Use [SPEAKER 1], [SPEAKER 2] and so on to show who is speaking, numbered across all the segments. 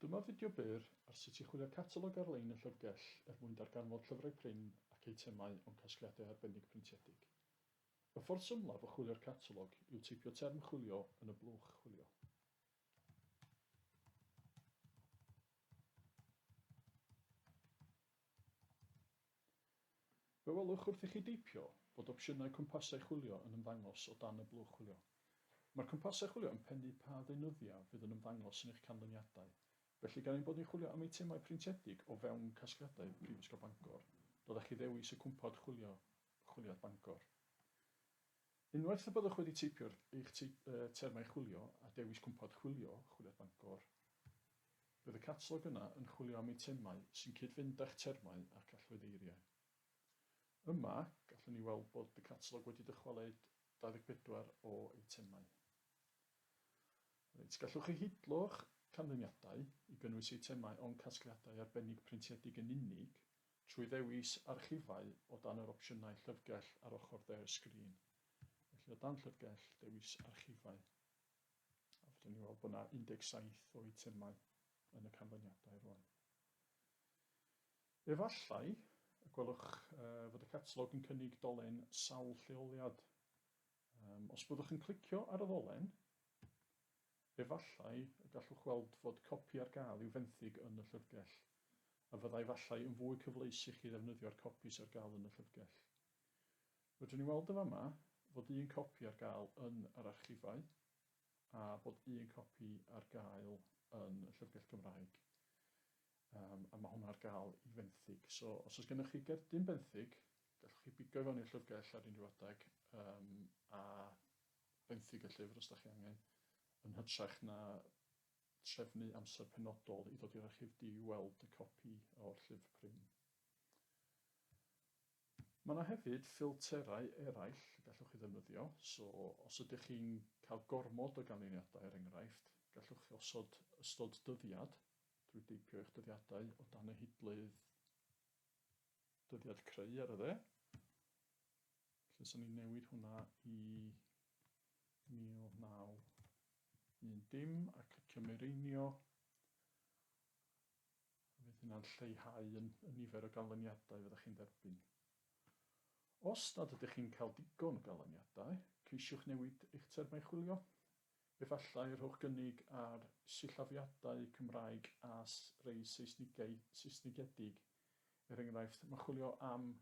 [SPEAKER 1] Dyma fideo byr ar sut i chwilio catalog ar-lein y Llyfrgell er mwyn darganfod llyfrau prin ac eitemau o'n casgliadau arbennig printiedig. Y ffordd symlaf o chwilio'r catalog yw teipio term chwilio yn y blwch chwilio. Fe welwch wrth i chi deipio fod opsiynau cwmpasau chwilio yn ymddangos o dan y blwch chwilio. Mae'r cwmpasau chwilio yn pennu pa ddeunyddiau fydd yn ymddangos yn eich canlyniadau, felly gan ein bod ni'n chwilio am eitemau printiedig o fewn casgliadau Prifysgol Bangor, dylech chi ddewis y cwmpawd chwilio Chwiliad Bangor. Unwaith y byddwch wedi teipio'r eich termau chwilio a dewis cwmpad chwilio, Chwiliad Bangor, bydd y catalog yna yn chwilio am eitemau sy'n cyd-fynd â'ch termau ac allweddeiriau. Yma, gallwn ni weld bod y catalog wedi dychwelyd 24 o eitemau. Reit, gallwch chi hidlo'ch canlyniadau i gynnwys eitemau o'n casgliadau arbennig printiedig yn unig Trwy ddewis archifau o dan yr opsiynau llyfrgell ar ochr de'r sgrin. Felly, o dan Llyfrgell, dewis Archifau. A fedrwn ni weld bod yna 17 o eitemau yn y canlyniadau rwan. Efallai y gwelwch fod y catalog yn cynnig dolen sawl lleoliad. Os byddwch yn clicio ar y ddolen, Efallai y gallwch weld fod copi ar gael i'w fenthyg yn y llyfrgell, a fyddai efallai yn fwy cyfleus i chi ddefnyddio'r copi sydd ar gael yn y llyfrgell. Rydyn ni'n weld yn fama fod un copi ar gael yn yr archifau a bod un copi ar gael yn y llyfrgell Gymraeg, um, a mae hwnna ar gael i fenthyg. So, os oes gennych chi gerdyn benthyg, gallwch chi bigo i fewn i'r llyfrgell ar unrhyw adeg um, a benthyg y llyfr os da chi angen, yn hytrach na trefnu amser penodol i ddod i'r archif di i weld y copi o'r llyfr prin. Mae yna hefyd ffilterau eraill y gallwch chi ddefnyddio, so os ydych chi'n cael gormod o ganlyniadau er enghraifft, gallwch chi osod ystod dyddiad drwy deipio eich dyddiadau o dan y hidlydd dyddiad creu ar y dde. Felly, os o'n i'n newid hwnna i 1910 dim a clicio mireinio, fydd hynna'n lleihau yn, y nifer o ganlyniadau fyddwch chi'n dderbyn. Os nad ydych chi'n cael digon o ganlyniadau, ceisiwch newid eich termau chwilio. Efallai y rhowch gynnig ar sillafiadau Cymraeg a rhai Seisnigau, Saesnigedig. Er enghraifft, mae chwilio am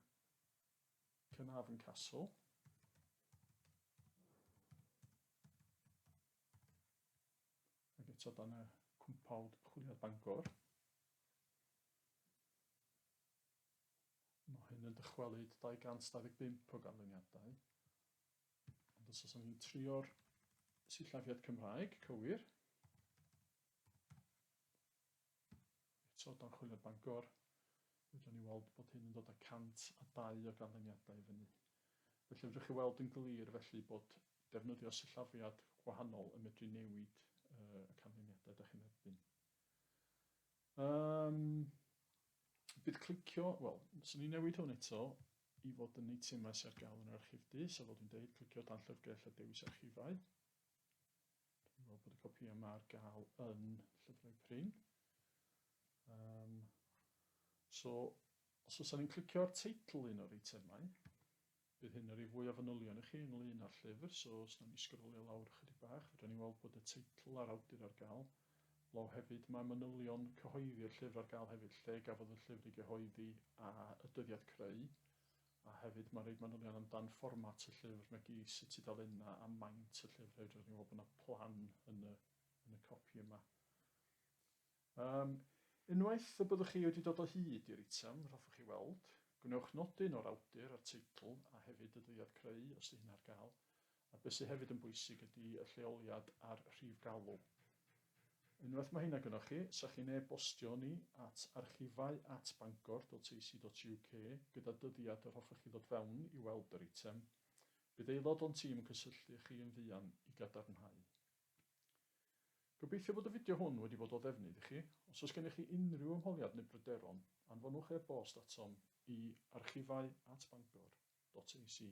[SPEAKER 1] Caernarfon Castle. Ac eto dan y cwmpawd chwiliad Bangor. Mae hyn yn dychwelyd 225 o ganlyniadau. Ond os oes ni'n trio'r sillafiad Cymraeg, cywir, Eto, dan chwilio Bangor, fedrwn ni weld bod hyn yn dod â 102 o ganlyniadau i fyny. Felly, fedrwch chi weld yn glir felly bod defnyddio sillafiad gwahanol yn medru newid y canlyniadau da chi'n erbyn. Um, bydd clicio, wel, swn i'n newid hwn eto i fod yn eitemau sy'n ar gael yn yr archifdy, so fel dwi'n dweud, clicio dan llyfrgell a dewis archifau. Dwi'n meddwl bod y copïau yma ar gael yn llyfrau prin. Um, so, os oes ni'n clicio ar teitl un o'r eitemau, bydd hyn yn rhoi fwy o fanylion i chi ynglyn â'r llyfr, so os nawn ni sgrolio lawr ychydig bach, fydden ni weld bod y teitl a'r awdur ar gael. Law hefyd, mae manylion cyhoeddi'r llyfr ar gael hefyd, lle gafodd y llyfr ei gyhoeddi a y dyddiad creu. A hefyd mae'n rhoid manylion amdan fformat y llyfr nag i sut tudalennau a maint y llyfr hefyd. Roeddwn i'n meddwl bod yna plan yn y yn y copi yma. Um, unwaith y byddwch chi wedi dod o hyd i'r item, yr hoffwch chi weld, gwnewch nodyn o'r awdur a'r teitl a hefyd y dyddiad creu, os ydy hyn ar gael, A be sy hefyd yn bwysig ydy y lleoliad a'r rhif galw. Unwaith mae heina gynnoch chi, sa chi'n e-bostio ni at archifau at bangor.ac.uk gyda dyddiad yr hoffech chi ddod fewn i weld yr eitem. Bydd aelod o'n tîm yn cysylltu â chi yn fuan i gadarnhau. Gobeithio fod y fideo hwn wedi bod o ddefnydd i chi. Os oes gennych chi unrhyw ymholiad neu bryderon, anfonwch e-bost atom i archifau at bangor.ac.uk.